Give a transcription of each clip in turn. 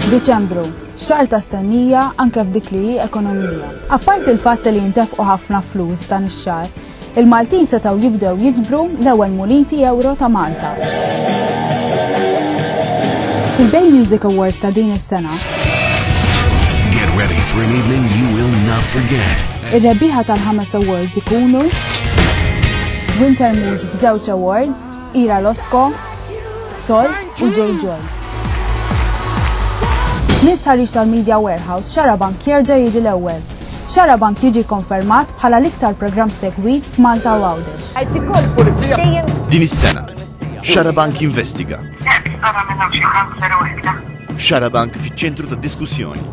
Diċembru, xar ta' stennija anke f'dik li ekonomija. Apparti l-fatt li jintefqu ħafna flus f'dan ix-xar, il-Maltin setgħu jibdew jiġbru l-ewwel muniti euro ta' Malta. Fil-Bay Music Awards ta' din is-sena, Get ready for an evening you will not forget. Ir-rebbieħa tal-ħames awards ikunu Winter Mood b'żewġ awards, Ira Losco, Salt u Joy Joy. Miss ħarix tal-Media Warehouse, Xarabank jerġa' jiġi l-ewwel. Xarabank jiġi konfermat bħala l-iktar programm segwit f'Malta u Għawdex. Din is-sena, Xarabank jinvestiga. Xarabank fiċ-ċentru ta' diskussjoni.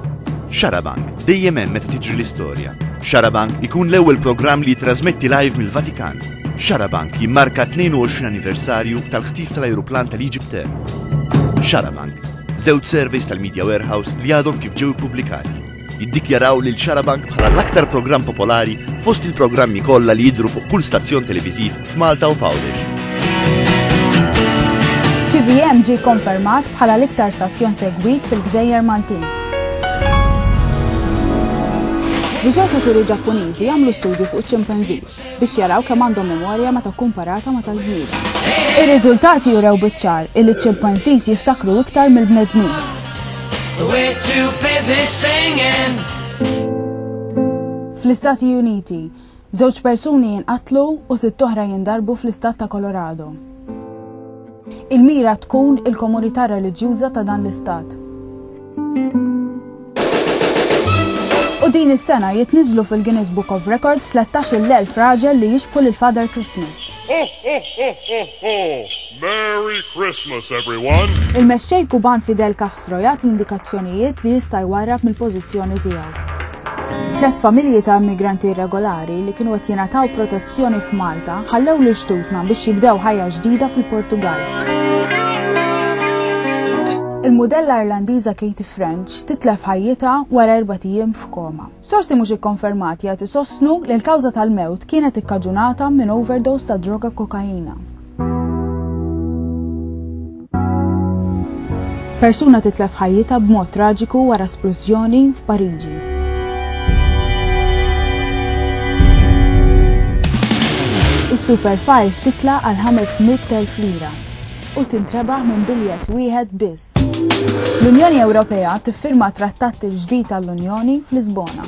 Xarabank dejjem hemm meta tiġri l-istorja. Xarabank ikun l-ewwel programm li jitrasmetti live mill-Vatikan. Xarabank jimmarka 22 anniversarju tal-ħtif tal-ajruplan tal-Egypt Xarabank, żewġ surveys tal-Media Warehouse li għadhom kif ġew ippubblikati. jiddikjaraw lil Xarabank bħala l-aktar programm popolari fost il-programmi kollha li jidhru fuq kull stazzjon televiżiv f'Malta u f'Għawdex. TVM ġie konfermat bħala l-iktar stazzjon segwit fil-Gżejjer Maltin. Riċerkaturi Ġappuniżi għamlu studju fuq ċimpanżis. biex jaraw kemm għandhom memorja meta kkumparata ma' tal-bniedem. Ir-riżultati jurew biċ-ċar illi ċ-ċimpanżiż jiftakru iktar mill-bnedmin. Fl-Istati Uniti, żewġ persuni jinqatlu u sitt oħra jindarbu fl-Istat ta' Colorado. Il-mira tkun il-komunità reliġjuża ta' dan l-Istat. U din is-sena jitniżlu fil-Guinness Book of Records 13,000 raġel li jixbħu lil Father Christmas. Merry Christmas, everyone! Il-Mexxej Kuban Fidel Castro jagħti indikazzjonijiet li jista' jwarrab mill-pożizzjoni tiegħu. Tliet familji ta' immigranti irregolari li kienu qed jingħataw protezzjoni f'Malta ħallew lil xtutna biex jibdew ħajja ġdida fil-Portugall. Il-mudella Irlandiża Katie French titlef ħajjitha wara erba' ijiem f'koma. Sorsi mhux ikkonfermati qed isostnu li l-kawża tal-mewt kienet ikkaġunata minn overdose ta' droga kokaina. Persuna titlef ħajjita b'mod traġiku wara splużjoni f'Pariġi. Is-Super 5 titla għal 500,000 lira u tintrebaħ minn biljett wieħed biss. L-Unjoni Ewropea tiffirma trattat il-ġdid tal-Unjoni fl-Lisbona.